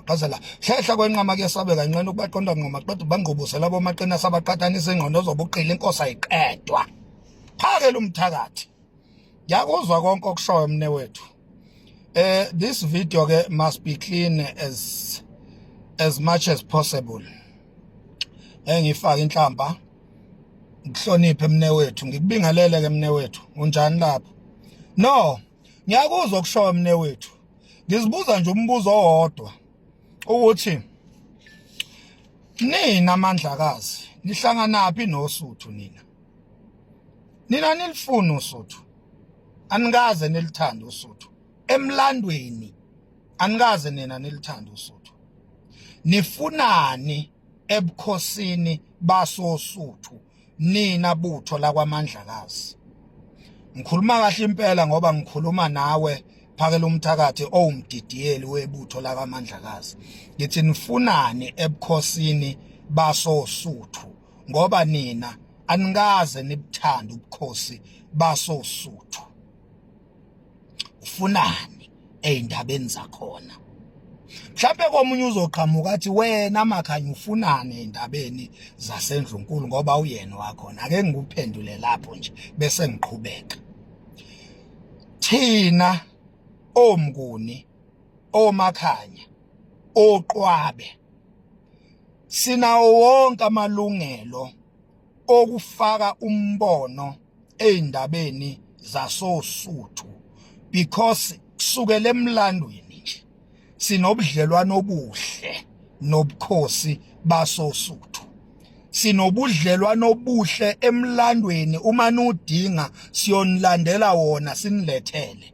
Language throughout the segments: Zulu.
qazela hlehla kwenqama kuyesabeka inqena ukubaqonda nqoma qeda ubangqubuse labo maqina sabaqhathanisa ingqondo zobuqili inkosi ayiqedwa phake lumthakathi yakuzwa konke okushoyo mne wethu eh this video ke must be clean as as much as possible engifaka inhlamba ngihloniphe mne wethu ngikubingelele ke mne wethu unjani lapho no Ngiyakuzwa kushoyo mne wethu. Ngizibuza nje umbuzo owodwa ukuthi nina amandlakazi nihlanganaphi nosuthu nina. Nina nilifuna usuthu. Anikaze nilithande usuthu. Emlandweni anikaze nina nilithande usuthu. Nifunani ebukhosini basosuthu nina butho lakwamandlakazi ngikhuluma kahle impela ngoba ngikhuluma nawe phakela umthakathi owumdidiyeli webutho lakamandlakazi ngithi nifunani ebukhosini basosuthu ngoba nina anikaze nibuthanda ubukhosi basosuthu ufunani ezindabeni zakhona mhlawumbe komunye uzoqhamuka athi wena makhanya ufunani ezindabeni zasendlunkulu ngoba uyena wakhona ake ngikuphendule lapho nje bese ngiqhubeka thina omnguni omakhanya oqwabe sinawo wonke amalungelo okufaka umbono ezindabeni zasosuthu because kusukela emlandweni nje sinobudlelwano obuhle nobukhosi basosuthu sinobudlelwano obuhle emlandweni uma nudinga siyonilandela wona sinilethele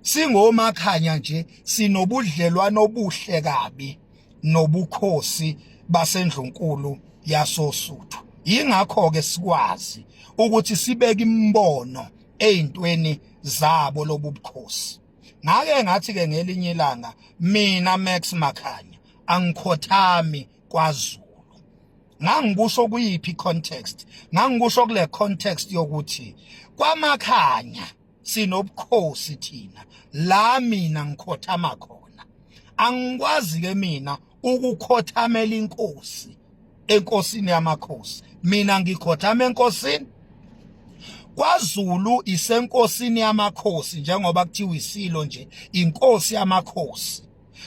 singomakhanya nje sinobudlelwano obuhle kabi nobukhosi basendlunkulu yasosuthu yingakho ke sikwazi ukuthi sibeke imbono ezintweni zabo lobubukhosi ngake ngathi ke ngelinye ilanga mina Max Makhanya angikhothami kwaZulu ngangikusho kuyiphi context ngangikusho kule context yokuthi kwamakhanya sinobukhosi thina la mina ngikhothama khona angikwazi ke mina ukukhothamela inkosi enkosini yamakhosi mina ngikhothama enkosini kwaZulu isenkosini yamakhosi njengoba kuthiwa isilo nje inkosi yamakhosi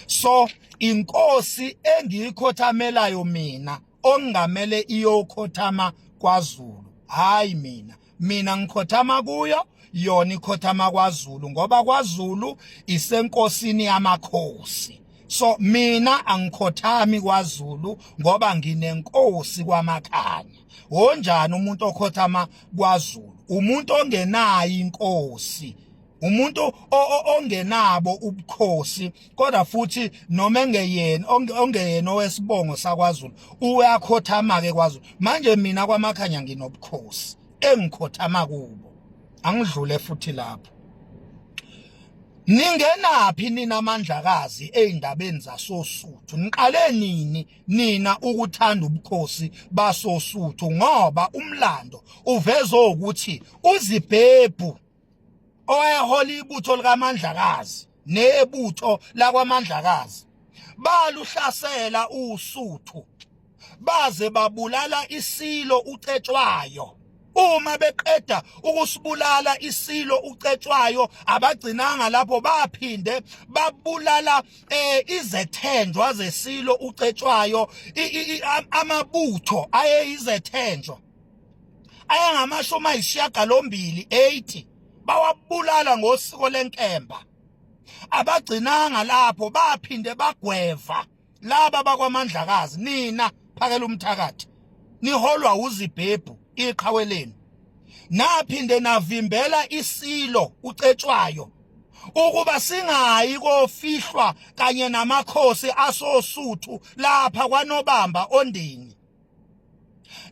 so inkosi engiyikhothamelayo mina ongamele iyokhothama kwaZulu hayi mina mina ngikhothama kuyo yona ikhothama kwaZulu ngoba kwaZulu isenkosini yamakhosi so mina angikhothami kwaZulu ngoba nginenkosi kwamakhanya wonjani umuntu okhothama kwaZulu umuntu ongenayo inkosi umuntu ongenabo ubukhosi kodwa futhi noma engeyena ongeyena owesibongo sakwaZulu uyakhothama ke kwaZulu manje mina kwamakhanya nginobukhosi engikhothama kubo angidlule futhi lapho Ningenaphi nina amandlakazi ezindabeni zasosuthu niqale nini nina ukuthanda ubukhosi basosuthu ngoba umlando uveza ukuthi uzibhebhu owayehola ibutho likaMandlakazi nebutho lakwaMandlakazi baluhlasela uSuthu baze babulala isilo uCetshwayo uma beqeda ukusibulala isilo ucetshwayo abagcinanga lapho baphinde babulala eh, izethenjwa zesilo ucetshwayo amabutho ayeyizethenjwa ayangamashumi ayishiyagalombili 80 bawabulala ngosiko lenkemba abagcinanga lapho baphinde bagweva laba bakwamandlakazi nina phakela umthakathi niholwa uzibhebhu iqhawe lenu naphinde navimbela isilo ucetshwayo ukuba singayi kofihlwa kanye namakhosi asosuthu lapha kwanobamba ondini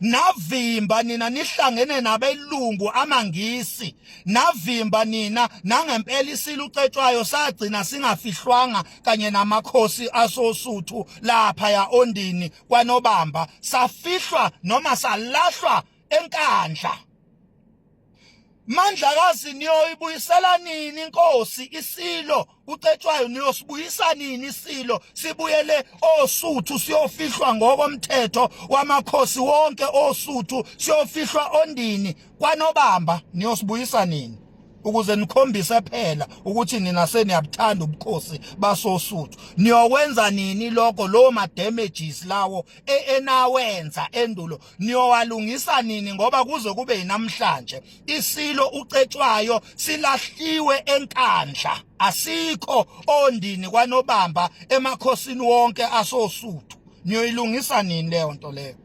navimba nina nihlangene nabelungu amangisi navimba nina nangempela isilo ucetshwayo sagcina singafihlwanga kanye namakhosi asosuthu lapha ya ondini kwanobamba safihlwa noma salahlwa enkandla Mandlakazi niyoyibuyisela nini inkosi isilo kucetshwayo niyosibuyisa nini isilo sibuyele osuthu siyofihlwa ngokomthetho wamakhosi wonke osuthu siyofihlwa ondini kwanobamba niyosibuyisa nini ukuze nikhombise phela ukuthi nina seniyabuthanda ubukhosi basosuthu niyokwenza nini lokho lowo ma damages lawo e-, enawenza endulo niyowalungisa nini ngoba kuze kube yinamhlanje isilo ucetshwayo silahliwe enkandla asikho ondini kwanobamba emakhosini wonke asosuthu niyoyilungisa nini leyo nto leyo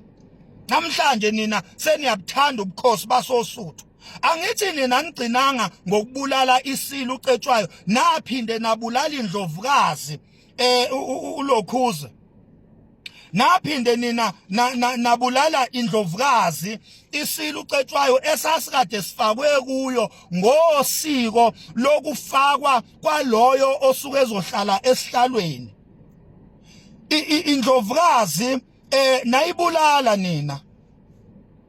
namhlanje nina seniyabuthanda ubukhosi basosuthu angithi nina nigcinanga ngokubulala isilo ucetshwayo naphinde nabulala indlovukazi eh ulokhuze naphinde nina nabulala indlovukazi isilu cetshwayo esasikade sifakwe kuyo ngosiko lokufakwa kwaloyo osuke ezohlala esihlalweni indlovukazi eh nayibulala nina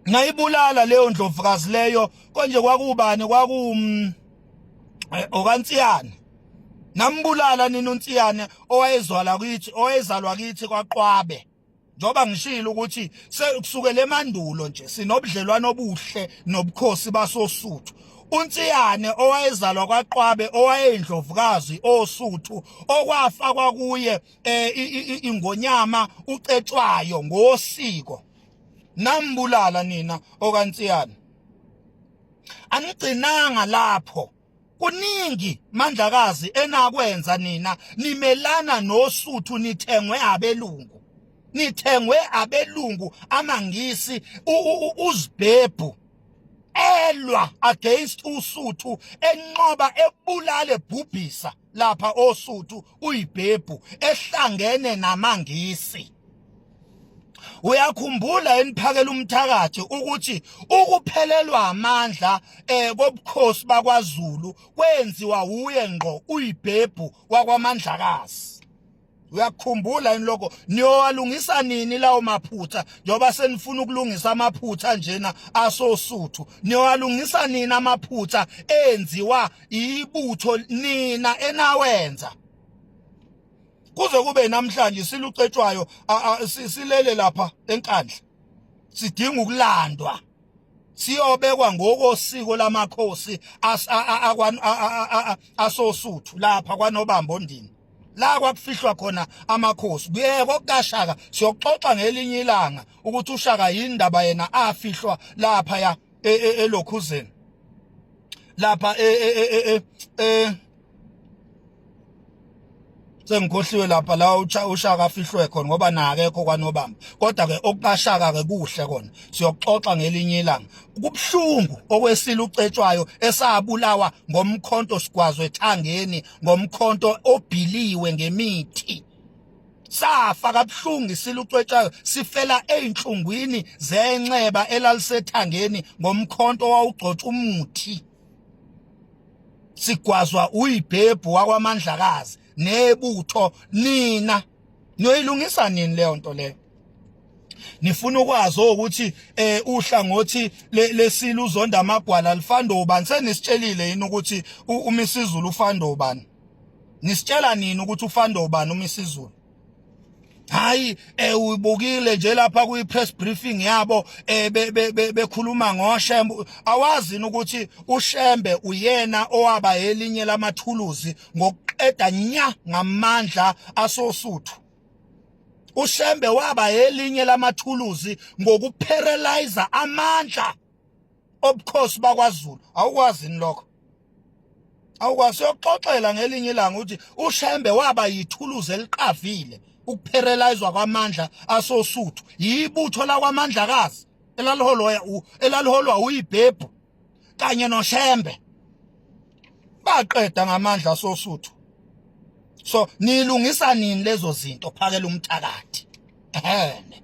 ngayibulala leyo ndlovukazi leyo konje kwakubani kwaku mm, eh, okansiyane nambulala nina unsiyane owayezwala kithi owayezalwa kithi kwaqwabe njoba ngishilo ukuthi sekusukela emandulo nje sinobudlelwano obuhle nobukhosi basosuthu uNtsiyane owayezalwa kwaQwabe owayeyindlovukazi osuthu okwafa kwakuye eh, ingonyama ucetshwayo ngosiko nambulala nina okaNtsiyane anigcinanga lapho kuningi mandlakazi enakwenza nina nimelana nosuthu nithengwe abelungu nithengwe abelungu amangisi uzibhebhu elwa against usuthu enqoba ebulale bhubhisa lapha oSuthu uyibhebhu ehlangene namangisi uyakhumbula eniphakela umthakathi ukuthi ukuphelelwa amandla eh kobukhosi bakwaZulu kwenziwa wuye ngqo uyibhebhu wakwamandlakazi uyakukhumbula yini lokho niyowalungisa nini lawo maphutha njengoba senifuna ukulungisa amaphutha njena asosuthu niyowalungisa nini amaphutha enziwa ibutho nina enawenza kuze kube namhlanje silucetshwayo silele lapha enkandla sidinga ukulandwa siyobekwa ngokosiko lamakhosi asosuthu lapha kwanobambo ndini la kwakufihlwa khona amakhosi kuyeke kokashaka siyoxoxa ngelinye ilanga ukuthi ushaka yindaba yena afihlwa lapha ya e, e, elokhuzeni lapha e, e, e, e, e, e sengikhohliwe lapha la ushaka afihlwe khona ngoba nakekho kwanobamba kodwa ke okukashaka ke kuhle kona siyoxoxa ngelinye ilanga kubhlungu okwesile ucetshwayo esabulawa ngomkhonto sigwazwe ethangeni ngomkhonto obhiliwe ngemithi safa kabhlungu isile ucwetshayo sifela einhlungwini zenxeba elalisethangeni ngomkhonto wawugcotshwa umuthi sigwazwa uyibhebhu wakwamandlakazi nebutho nina niyoyilungisa nini leyo nto leyo nifuna ukwazi ukuthi eh uhlangothi lesilo uzonda amagwala lifando ubani senisitshelile yini ukuthi umisizulu ufando ubani nisitshela nini ukuthi ufando ubani umisizulu hayi eh uyibukile nje lapha kuyi press briefing yabo eh bekhuluma ngoshembe awazi ukuthi ushembe uyena owaba elinye lamathuluzi ngokuqeda nya ngamandla asosuthu ushembe waba elinye lamathuluzi ngokuparalyzer amandla obukhosi bakwaZulu awukwazi ni lokho awukwazi yokuxoxela ngelinye ilanga ukuthi uShembe waba yithuluzi eliqavile ukupherelizwa kwamandla asosuthu yibutho lakwamandlakazi elaliholwa elaliholwa uyibhebhu kanye noShembe baqeda ngamandla asosuthu so nilungisa nini lezo zinto phakela umthakathi ehene